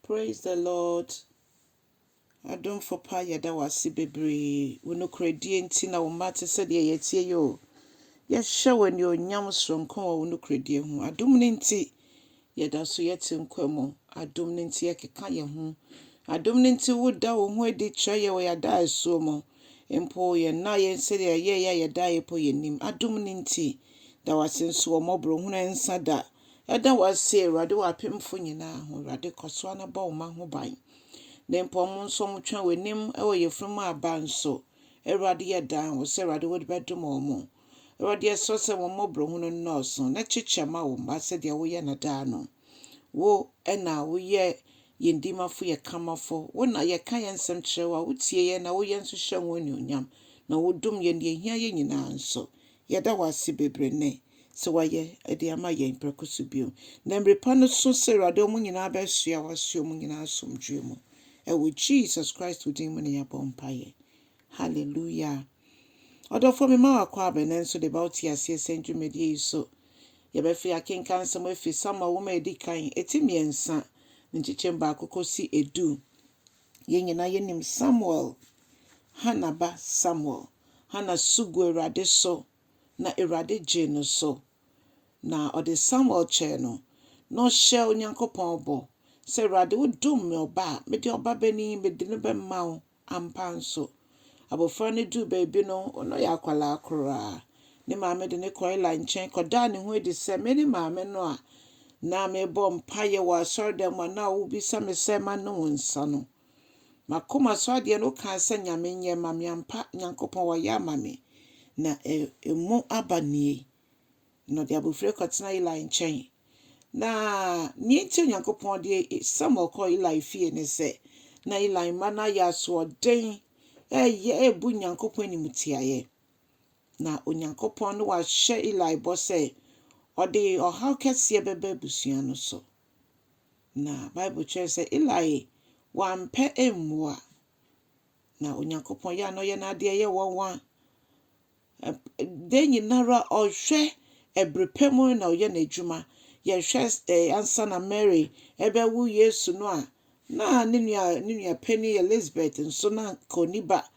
Praise the Lord adomfo pa yɛda wo ase bebree wo nokorɛdie nti na wo mma te sɛ deɛ yɛtie yi o yɛhyɛ wo anuonyam soronko wɔ wo nokorɛdie ho adom no nti yɛda so yɛte nkwa mu adom no nti yɛkeka yɛn ho adom no nti woda wo ho adi kyerɛ yɛ wɔ yɛada asuo mu mpo yɛn na yɛn sɛdeɛ yɛyɛ a yɛda yɛ po yɛn nim adom no nti da wase nso wɔ mmɔborɔ hunu nsa da Yɛda wo ase, Awurade, wɔ apemfo nyinaa ho. Awurade, kɔ so ara na bɔ wo mma ho ban. Ne mpɔm nso, wɔtwɛn w'anim wɔ yafunum aba nso. Awurade, yɛdan wo sɛ, Awurade, wode bɛdom wɔn. Awurade, yɛsrɛ sɛ wɔn mmɔborɔhunu nnɔɔso, na kyekyɛ ma wo mma sɛdeɛ woyɛ no daa no. Wo na woyɛ yɛn dimafo, yɛn kamafo. Wo na yɛka yɛn nsɛm kyerɛ wo a, wotie yɛn na woyɛ nso hyɛ ho anuonyam, na wodom yɛn deɛ ɛhia yɛn nyinaa nso. Yɛda wo ase bebree nnɛ sɛ wayɛ de ama yɛn prɛko so bio. Na mmere pa no so sɛ Awurade wɔn nyinaa bɛsoa w'asoɛ mu nyinaa asomdwoe mu. Ɛwɔ Jesus Christ wo din mu na yɛabɔ mpaeɛ. Hallelujah. Ɔdɔfoɔ mema wo akɔ abɛ nanso de ba wo te aseɛ sɛ ndwumadie yi so yɛbɛfe akenkan nsɛm afi Samuel nwoma a ɛdi kan, ɛti mmiɛnsa ne nkyekyɛm baako kɔsi ɛdu. Yɛn nyinaa yɛnim Samuel, Hannah ba Samuel. Hannah su gu Awurade so, na Awurade gyee no so, na ɔde Samuel kyɛɛ no, na ɔhyɛɛ Onyankopɔn bɔ sɛ, Awurade, wodom me ɔba a, mede ɔbabanin yi, mede no bɛma wo. Ampa ara nso, Abofra no duu baabi no, na ɔyɛ akwadaa koraa. Ne maame de no kɔɔ Eli nkyɛn kɔdaa ne ho adi sɛ, Mene maame no a na mebɔ mpaeɛ wɔ asɔredan mu a na wobisa me sɛ manom wo nsa no. M'akoma so adeɛ no, wokaa sɛ Nyame nyɛ mma me ampa. Nyankopɔn wayɛ ama me, na emu aba nie. na ɔde abofra kɔtena Eli nkyɛn. Na nea enti Onyankopɔn de Samuel kɔ Eli fie ne sɛ, na Eli mma no ayɛ asoɔden, ɛyɛ ebu Nyankopɔn animtiaeɛ. Na Onyankopɔn no wahyɛ Eli bɔ sɛ ɔde ɔhaw kɛseɛ bɛba abusua no so. Na Bible kyerɛ sɛ Eli wampɛ mmoa. Na Onyankopɔn yɛ a na ɔyɛ n'adeɛ yɛ wɔn wa. da nyinara ɔhwɛ ɛbere pɛ mu na ɔyɛ n'adwuma. Yɛhwɛ eh, ansa na Mary ɛbɛwo Yesu no a, na ne nua ne nua panyin Elizabeth nso na kɔni ba.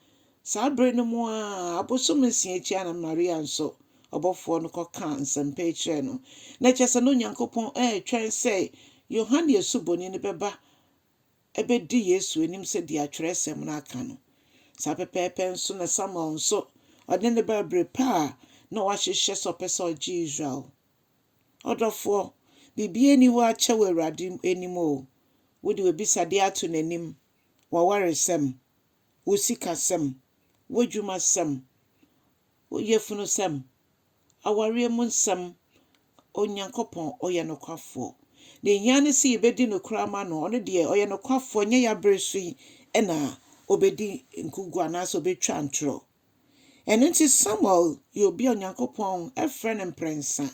Saa bere no mu a abosom nsia akyi a na Maria nso ɔbɔfoɔ no kɔka nsɛmpa yi kyerɛɛ no. Na kyerɛ sɛ na Onyankopɔn ɛretwɛn sɛ Yohane Asuboni no bɛba bedi Yesu anim sɛdeɛ Twerɛsɛm no aka no. Saa pɛpɛɛpɛ nso na Samuel nso ɔde no baa bere pa a na wahyehyɛ sɛ ɔpɛ sɛ ɔgye Israel. Ɔdɔfoɔ, biribiara nni hɔ akyɛ wɔ Awurade anim o. Wode w'abisadeɛ ato n'anim, w'awaresɛm, wo sikasɛm, w'adwumasɛm, wo yafunusɛm, Awareɛ mu nsɛm, Onyankopɔn ɔyɛ nokwafoɔ. Deɛ ɛhia ne sɛ yɛbɛdi nokorɛ ama no. Ɔno deɛ ɔyɛ nokwafoɔ, ɛnyɛ yɛn abere so yi na ɔbɛdi nkuguo anaasɛ ɔbɛtwa ntorɔ. Ɛno nti Samuel yɛ obi a Onyankopɔn frɛ no mprɛnsa.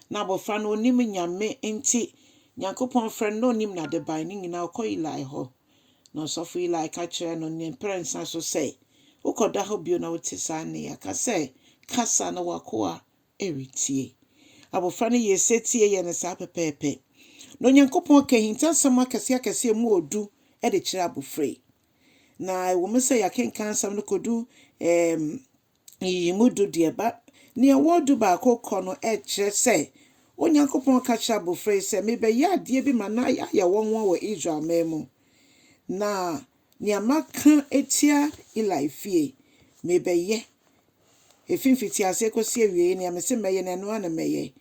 Na abɔfra no ɔnnim Nyame nti Nyankopɔn frɛ no na ɔnnim n'adeban no nyinaa ɔkɔ Eli hɔ. Na ɔsɔfo Eli ka kyerɛɛ no ne mprɛnsa so sɛ, Wokɔda hɔ bio na wote saa nne yi a, ka sɛ, 'Kasa, na w'akoa retie. Abofra no yɛɛ setie yɛɛ no saa pɛpɛɛpɛ. Na Onyankopɔn ka ahintasɛm akɛseakɛse a emu wɔ du de kyerɛ abofra yi. Na ɛwom sɛ yɛakenkan asɛm no kodu Nyiyimu du deɛ ba nea ɔwɔ du baako kɔ no ɛkyerɛ sɛ Onyankopɔn ka kyerɛ abofra yi sɛ, Mebɛyɛ adeɛ bi ma no ayɛ nwonwa wɔ Israel man mu, na nea maka atia Eli fie, mebɛyɛ. Ɛfiri mfitiaseɛ kɔsi awieeɛ, nea mese mɛyɛ no, ɛno ara na mɛyɛ.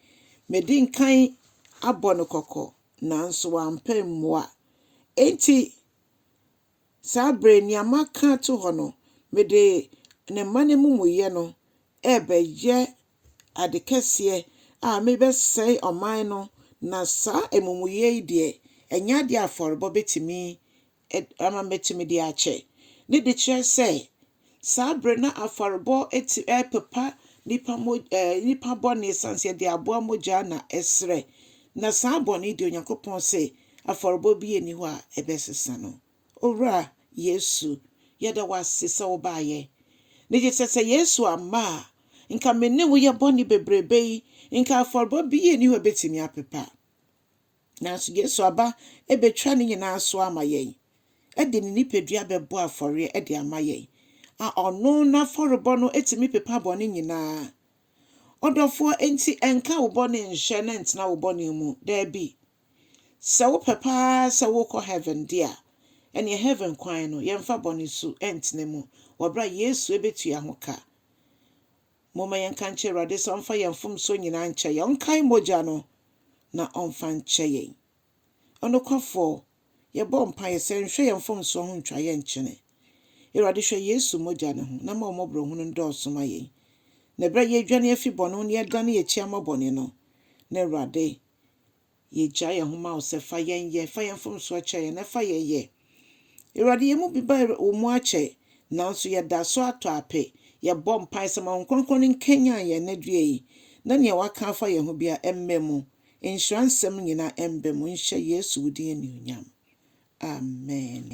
Medi nkan abɔ no kɔkɔ, nanso wampɛ mmoa. Enti, Saa bere, nea maka ato hɔ no, mede ne mma no amumuyɛ no rebɛyɛ ade kɛseɛ a merebɛsɛe ɔman no, na saa amumuyɛ yi deɛ, ɛnyɛ adeɛ a afɔrebɔ bɛtumi ama matumi de akyɛ. Ne de kyerɛ sɛ, Saa bere na afɔrebɔ ti repepa nnipa mo eh, nnipa bɔne esiane sɛ yɛde aboa mogya na ɛsrɛ. Na saa bɔne deɛ Onyankopɔn se afɔrebɔ bi nni hɔ a ɛbɛsesa no. Owura Yesu, yɛda wo ase sɛ wobaeɛ. Ne gye sɛ sɛ Yesu amma a, nka me ne wo yɛ bɔne bebrebe yi, nka afɔrebɔ bi nni hɔ a ɛbɛtumi apepa. Nanso Yesu aba betwa ne nyinaa so ama yɛn, de ne nipadua bɛbɔ afɔreɛ de ama yɛn, a ɔno n'afɔrebɔ no tumi pepa bɔne nyinaa. Ɔdɔfoɔ, enti nka wo bɔne nhyɛ na ntena wo bɔne mu, daabi. Sɛ wopɛ paa sɛ wokɔ heaven de a, ɛneɛ heaven kwan no, yɛmfa bɔne su ntena mu, wɔ berɛ a Yesu bɛtua ho ka. Momma yɛnka nkyerɛ Awurade sɛ ɔmfa yɛn mfomsoɔ nyinaa nkyɛ yɛn, ɔnkae mogya no na ɔmfa nkyɛ yɛn. Ɔnokwafoɔ, yɛbɔ mpaeɛ sɛ nhwɛ yɛn mfomsoɔ ho ntwa yɛn nkyene. Awurade hwɛ Yesu mogya no ho na ma wo mmɔborɔhunu ndɔɔso ma yɛn. Na berɛ a yɛredwane afi bɔne ho na yɛdane yɛn akyi ama bɔne no, na Awurade Yɛgya yɛn ho ma wo sɛ fa yɛn yɛ, fa yɛn mfomsoɔ kyɛ yɛn na fa yɛn yɛ. Awurade, yɛn mu bi ba wo mu akyɛ, nanso yɛda so atɔ ape. Yɛbɔ mpae sɛ ma Honhom Kronkron no nkanyan yɛn anadwoɛ yi, na nea waka afa yɛn ho biara ɛmmɛ mu. Nhyira nsɛm nyinaa ɛmba mu nhyɛ Yesu wo din anuonyam. Amen.